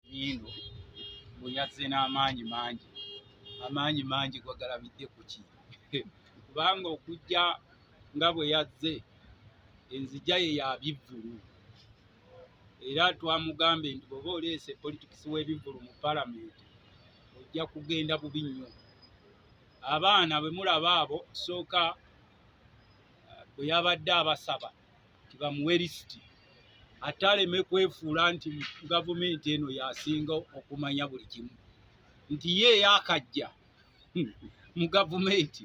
Muyindu mbu yazze n'amaanyi mangi, amaanyi mangi gwagalabidde ku ki? Kubanga okujja nga bwe yazze enzija ye ya bivvulu era twamugambye nti bw'oba oleese politikisi w'ebivvulu mu palamenti ojja kugenda bubi nnyo. Abaana bwe mulaba abo sooka bwe yabadde abasaba nti bamuwe lisiti ate aleme kwefuula nti gavumenti eno yasinga okumanya buli kimu nti ye eyakajja mu gavumenti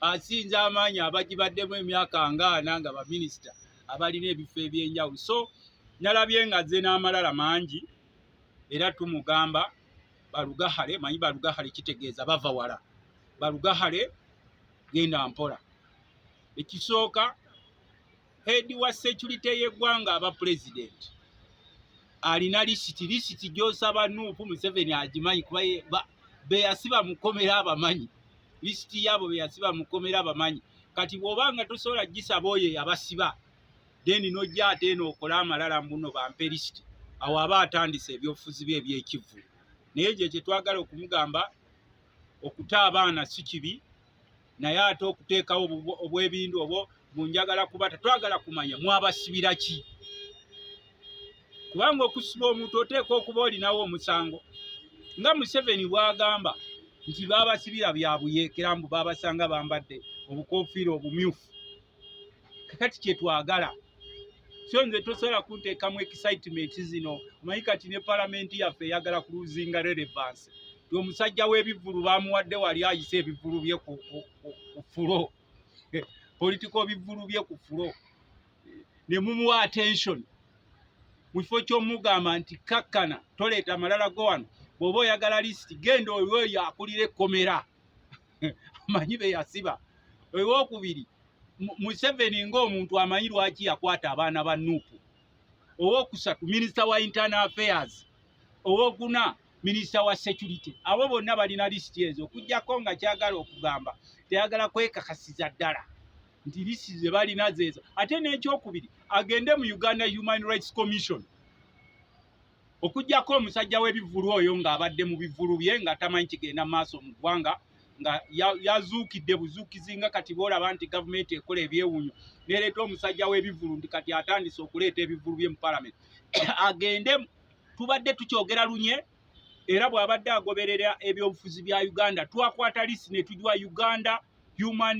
asinza amaanyi abagibaddemu emyaka ngaana nga baminisita abalina ebifo ebyenjawulo so nalabye nga ze n'amalala mangi era tumugamba balugahale manyi balugahale kitegeeza bava wala balugahale genda mpola ekisooka heedi wa securite y'eggwanga aba pulezidenti alina lisiti lisiti gyosaba nuupu museveni agimanyi kuba beyasiba mukomera abamanyi lisiti yaabo beyasiba mukomera abamanyi kati bwoba nga tosobola gisaba oyo eyabasiba then nojja ate eno okole amalala mbuno bampe lisiti awo aba atandise ebyobufuzi bye ebyekivulu naye ekyo kyetwagala okumugamba okuta abaana si kibi naye ate okuteekawo obwebindu obwo munjagala kuba tetwagala kumanya mwabasibira ki kubanga okusiba omuntu oteeka okuba olinawo omusango nga museveni bwagamba nti babasibira byabuyeekera mbu babasanga bambadde obukofiira obumyufu kakati kyetwagala so nze tosobola kunteekamu excitement zino omanyi kati ne palamenti yaffe eyagala kuluzinga relevance ti omusajja w'ebivvulu bamuwadde wali ayise ebivvulu bye ku fulo politiko bivvulu bye ku fulo ne mumuwa attention mu kifo ky'omugamba nti kakkana toleeta malala go wano bw'oba oyagala lisiti genda oyo oyo akulira ekkomera amanyi be yasiba owokubiri museveni ngaomuntu amanyi lwaki yakwata abaana ba nupu owokusatu minisita wa internal affairs owokuna minisita wa security abo bonna balina lisiti ezo okujjako nga kyagala okugamba teyagala kwekakasiza ddala nti lisiti zebalina zezo ate nekyokubiri agende mu uganda human rights commission Okujjako omusajja w'ebivvulu oyo ng'abadde mu bivvulu bye nga tamanyi kigenda maaso mu ggwanga nga yazuukidde buzuukizi nga kati boolaba nti gavumenti ekola ebyewuunyo nereeta omusajja w'ebivvulu nti kati atandise okuleeta ebivvulu bye mu palamenti agende tubadde tukyogera lunye era bw'abadde agoberera ebyobufuzi bya Uganda twakwata lisi ne tujwa Uganda human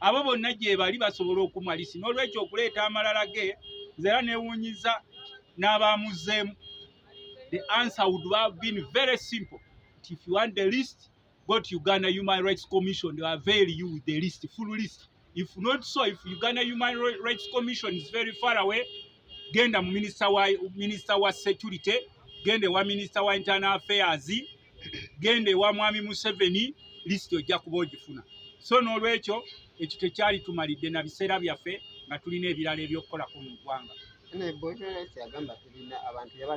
abo bonna gyebali basobola okumalisi n'olwekyo okuleeta amalala ge nze era newunyiza n'abaamuzeemu the answer would have been very simple But if you want the list go to uganda human rights commission they are very you with the list full list if not so if uganda human rights commission is very far away genda mu minister wa, minister wa security genda ewa minister wa internal affairs genda ewa mwami museveni lisiti ojja kuba ogifuna so n'olwekyo ekyo tekyali tumalidde na biseera byaffe nga tulina ebirala ebyokukolako mu ggwanga